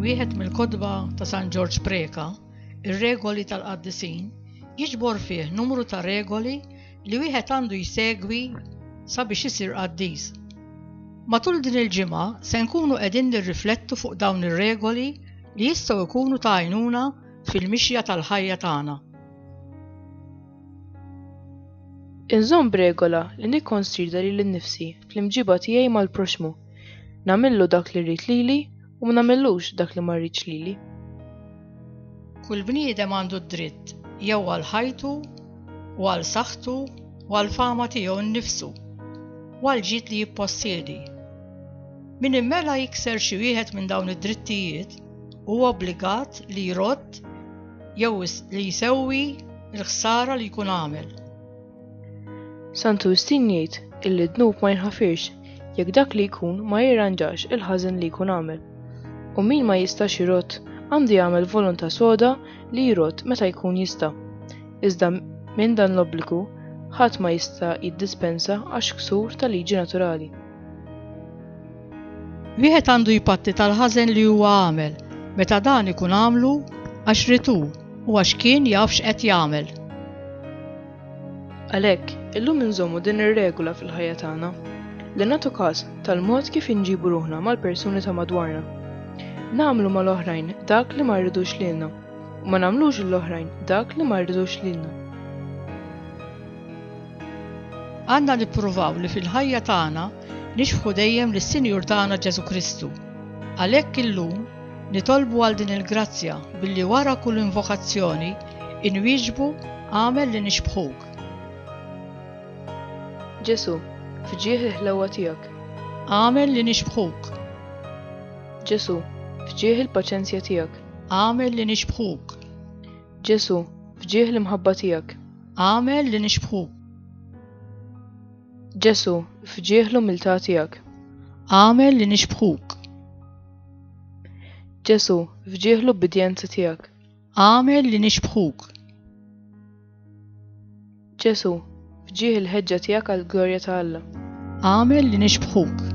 Wieħed mill-kotba ta' San Ġorġ Preka, ir-regoli tal-qaddisin, jiġbor fih numru ta' regoli li wieħed għandu jsegwi sabiex isir qaddis. Matul din il-ġimgħa se nkunu qegħdin nirriflettu fuq dawn ir-regoli li jistgħu jkunu ta' għajnuna fil-mixja tal-ħajja tagħna. Inżomm b'regola li nikkonsideri lil nnifsi fl-imġiba tiegħi mal-proxxmu, nagħmillu dak li rrid lili u ma nagħmillux dak li ma rridx lili. Kull bniedem għandu d-dritt jew għal ħajtu u għal saħħtu u għall-fama tiegħu nnifsu u għall-ġid li jippossiedi. Min immela jikser xi wieħed minn dawn id-drittijiet huwa obbligat li jrodd Jew li jsewwi l-ħsara li jkun għamel. Santu Wistin jgħid illi d-dnub ma jinħafirx jekk dak li jkun ma jirranġax il-ħażen li jkun għamel. U min ma jistax jirott għandu jagħmel volontà soda li jirott meta jkun jista'. Iżda minn dan l-obbligu ħadd ma jista' jiddispensa għax ksur ta' liġi naturali. Wieħed għandu jpatti tal-ħażen li huwa għamel meta dan ikun għamlu għax ritu u għax kien jaf x'qed jagħmel. Għalhekk, illum inżommu din ir-regola fil-ħajja tagħna li nagħtu każ tal-mod kif inġibu ruħna mal-persuni ta' madwarna. Nagħmlu mal-oħrajn dak li ma rridux lilna u ma nagħmlux l-oħrajn dak li ma rridux lilna. Għandna nippruvaw li fil-ħajja tagħna nixbħu dejjem lis-Sinjur tagħna Ġesù Kristu. Għalhekk illum nitolbu għal din il-grazzja billi wara kull invokazzjoni inwieġbu Agħmel li nixbħuk. Ġesù, fġieħ il-ħlewwa tiegħek. Agħmel li nixbħuk. Ġesù, fġieħ il-paċenzja tiegħek. Agħmel li nixbħuk. Ġesù, fġieħ l-imħabba tiegħek. Għamel li nixbħuk. Ġesu, fġieħ l-umiltà tiegħek. Għamel li nixbħuk. Ġesu, fġieħ l-ubbidjenza tiegħek. Għamel li nixbħuk. Ġesu, fġieħ il-ħeġġa tiegħek għall-glorja ta' Alla. Għamel li nixbħuk.